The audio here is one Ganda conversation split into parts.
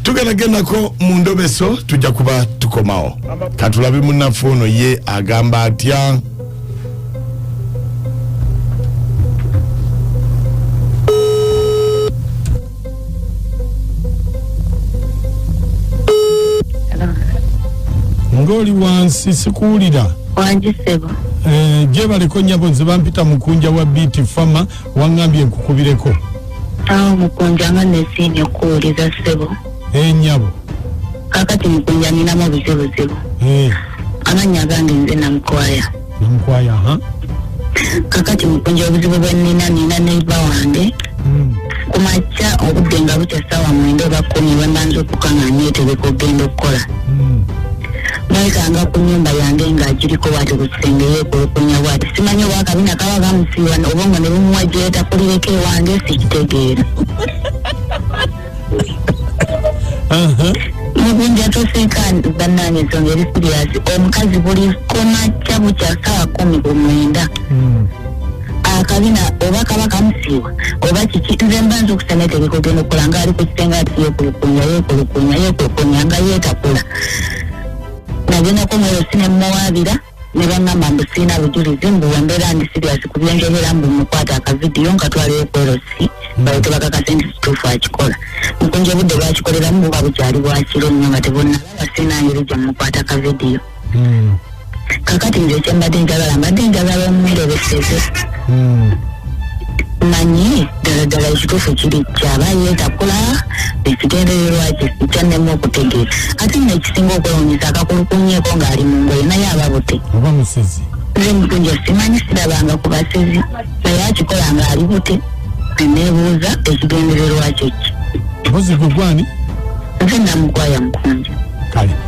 tugenda gendako mu ndobeso tujja kuba tukomawo katulabe munaffe ono ye agamba atya ngoli wansi sikuwulira wangi sebo eh, gyebaleko nyabo nze bampita mukunja wa biti fama Wangambye nkukubireko. Awo mukunja nga nesiimye okukuwuliza ssebo. Eh nyabo. Kakati mukunja ninamu obuzibuzibu. Eh. Amannya agange nze Namukwaya. Namukwaya ha? Kakati mukunja obuzibu bwe nina nina neiba wange. Mm. Ku makya obudde nga bukya ssaawa mwenda oba kkumi bwe mbanza okukang'anya eteeka okugenda okukola. Mm. nayitanga ku nyumba yange nga agiriko bwati ku kisenge yekulukunya bwati simanyi oba akabina kaba kamusiiwa oba nga ne bumuwa gyetakulireko ewange sikitegeera mubunja toseka banange ensonga eri siriyasi omukazi buli komakya bukya sawa kumi ku mwenda hmm. akabina oba kaba kamusiiwa oba kiki nze mba nza okusana etegekogendokola nga ali ku kisenge ati yekulukunya yekulukunya yekulukunya nga yetakula nagendako mweyosi ne muwaabira ne bangamba mbu sirina bujulizi mbu wembeera ndi siriasi ku byenjogera mbu mukwata akavidiyo nga twaliwo kwerosi balyoke bakakase nti kituufu akikola mukunja obudde bwakikoleramu buba bukyali bwakiro nnyo nga tebonalaba sirina ngeri gye mukwata akavidiyo kakati nze kyembadde njagala mbadde njagala omuwerebeseze hmm. manyi ddala ddala ekituufu kiri kyaba yetakula ekigendererwa kye kyannema okutegeera ate nno ekisinga okwewunyisa akakulukunyeeko ng'ali mu ngoye naye ababute oba musezi nze mutunja simanyi sirabanga ku basezi naye akikola ng'ali bute neneebuuza ekigendererwa kye ki mbuzi gwe gwani nze namukwaya mukunja kale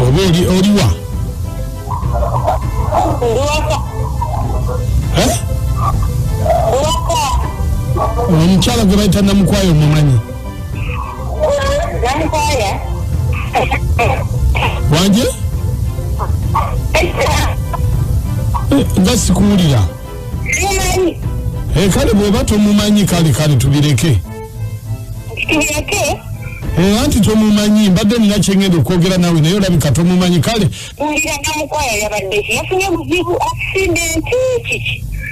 oba oli oliwa Eh? omukyala gwe bayita namukwayo omumanyi wanje Eh, nga sikuwulira Eh, kale bweba tomumanyi kale kale tubireke Eh, anti tomumanyi mbadde nina kyengenda okwogera nawe naye olabika tomumanyi kale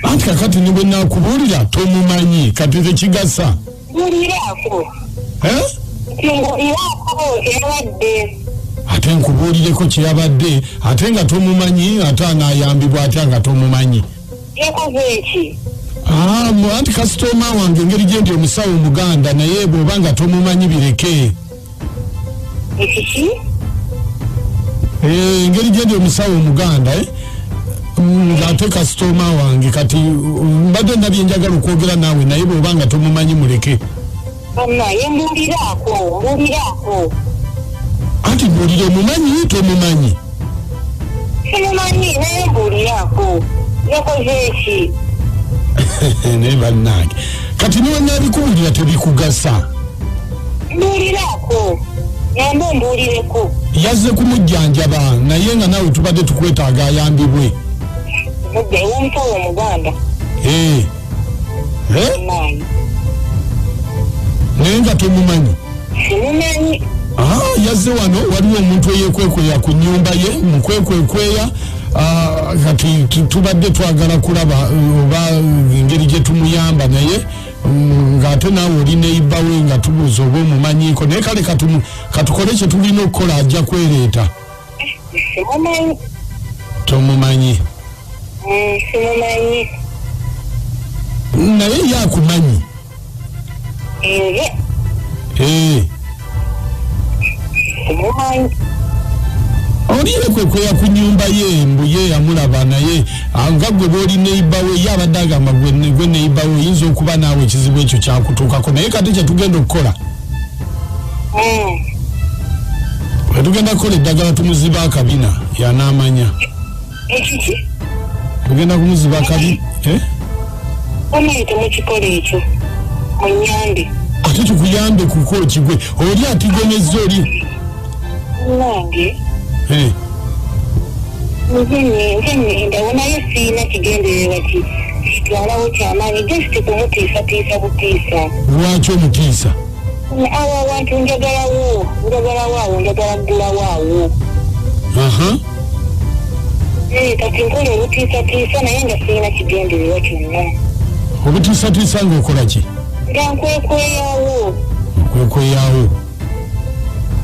anti kakati nibwe nakubuulira tomumanyi kati tekigasa eh? ate nkubuulireko kyeyabadde ate nga tomumanyi ate anayambibwa atya nga tomumanyi yakoze ki Ah, mu- anti kasitooma wange engeri gye ndi omusawo omuganda naye bw'oba nga tomumanyi bireke ekiki Eh, engeri gye ndi omusawo omuganda eh, mm, ng'ate kasitooma wange kati mm, mbadde nabye njagala okwogera naawe naye bw'oba nga tomumanyi muleke banaye mbuuliraako mbuuliraako anti mbuulira omumanyi tomumanyi simumanyi naye mbuuliraako yakoze eki naye bannange kati niwenabikuwulira tebikugasa mbuuliraako yamba ombuulireko yazze kumujjanjaba naye nga nawe tubadde tukwetaaga ayambibwe mudde ew'omutowa omuganda ee eh. Eh? Mayi. naye nga tomumanyi Simumanyi. Ah, yazze wano waliwo omuntu eyekwekweya ku nyumba ye mukwekwekwea ah, kati tu- tubadde twagala kulaba eh, oba engeri gye tumuyamba naye mm, ng'ate naawe oli neiba we nga tubuuza oba omumanyiiko naye kale katumu- katukole kye tulina okukola ajja kwereeta simumanyi tomumanyi Mm, simumanyi naye ye akumanyi nze Eh, simumanyi oliire kwe kweya ku nyumba ye mbu ye yamulaba naye ah, nga gwe booli neiba we ye abadde agamba gwe ne- gwe neiba we oyinza okuba naawe ekizibu ekyo kyakutuukako naye kati kyetugenda okukola wetugenda kukola eddagala tumuziba akabina yanaamanya tugenda kumuziba akabi eh? omuyite mukikola ekyo munyambe ate tukuyambe kuko kigwe oli atigomezza oli nange Eh, nze ne- nze nendawo naye sirina kigendererwa ki- kitwalawo kyamaanyi just kumutiisatiisa butiisa lwaki omutiisa awo awantu njagalawo njagalawo awo njagala kugulawo awo aha Eh, kati nkola olutiisatiisa naye nga sirina kigendererwa kyonna obutiisatiisa ng'okola ki nga nkwekweyawo okwekweyawo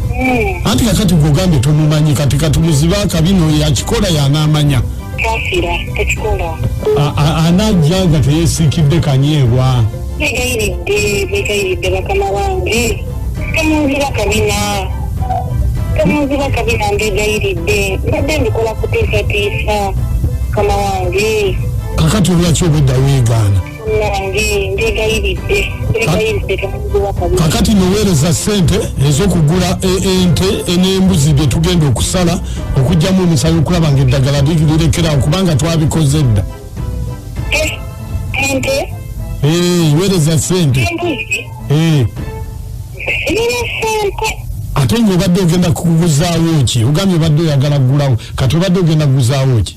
Hmm. anti kakati gogambye tomumanyi kati katumuziba akabino yakikola yanamanya anajja nga teyesiikidde kanyeebwa begayiridde begayiridde bakama bange temunziba kabina temunziba kabina mbegayiridde mbadde ndikola kutiisatiisa mukama wange kakati olwaki obwedda weegaana kakati noweereza sente ezokugula e- ente e- n'embuzi bye tugenda okusala okugyamu omusayi okulaba nga eddagala lirekerawo kubanga twabikoze dda eh, eh, weereza sente eh. ate nga obadde ogenda kuguzaawo ki ogambye obadde oyagala kugulawo kati obadde ogenda kuguzaawo ki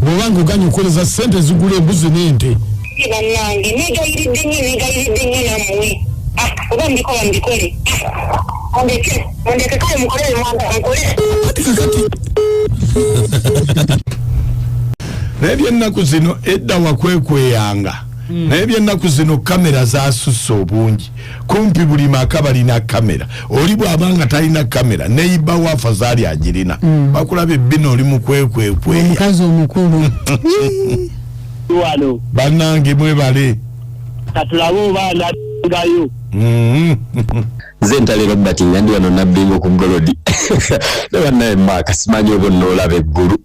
bwoba nga oganye okukoleza ssente ezigula embuzi n'ente banange negayiridde nyo negayiridde nyo namuwe ah, oba mbikola mbikole ondeke ondeke kale mukolere mwanga mukole kati kakati naye byennaku zino edda wakwekweyanga hmm. naye byennaku zino kamera zasusse obungi kumpi buli maka balina kamera oli bwaba nga talina kamera neiba wa afazali agirina mm. bakulaba ebbina oli mukwekwekweymukazi omukulu banange mwebale katulabe obanangayo mm-hmm. nze ntalero bati nga ndi wano nabbingo ku golodi ne banaye maaka simanyi obo noolaba eggulu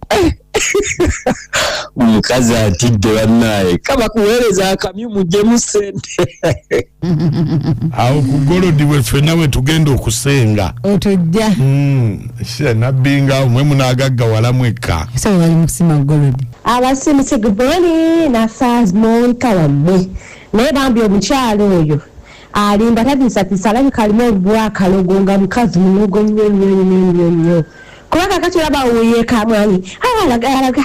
omukazi atidde banaye kabakuweereza akamyu mujemu sente awo ku golodi weffe nawe tugenda okusenga otujja hmm, nabbi nga mwe munagaggawala mwekka abasimusi guboni nasamonka wammwe naye bambi omukyalo oyo alimba tatiisatiisa alabika alimu olubwakalogo nga mukazi munogo nnyo nnyo nnyo nnyo nnyo kuba kakati olaba wuyeekamwanyi awalaga alaga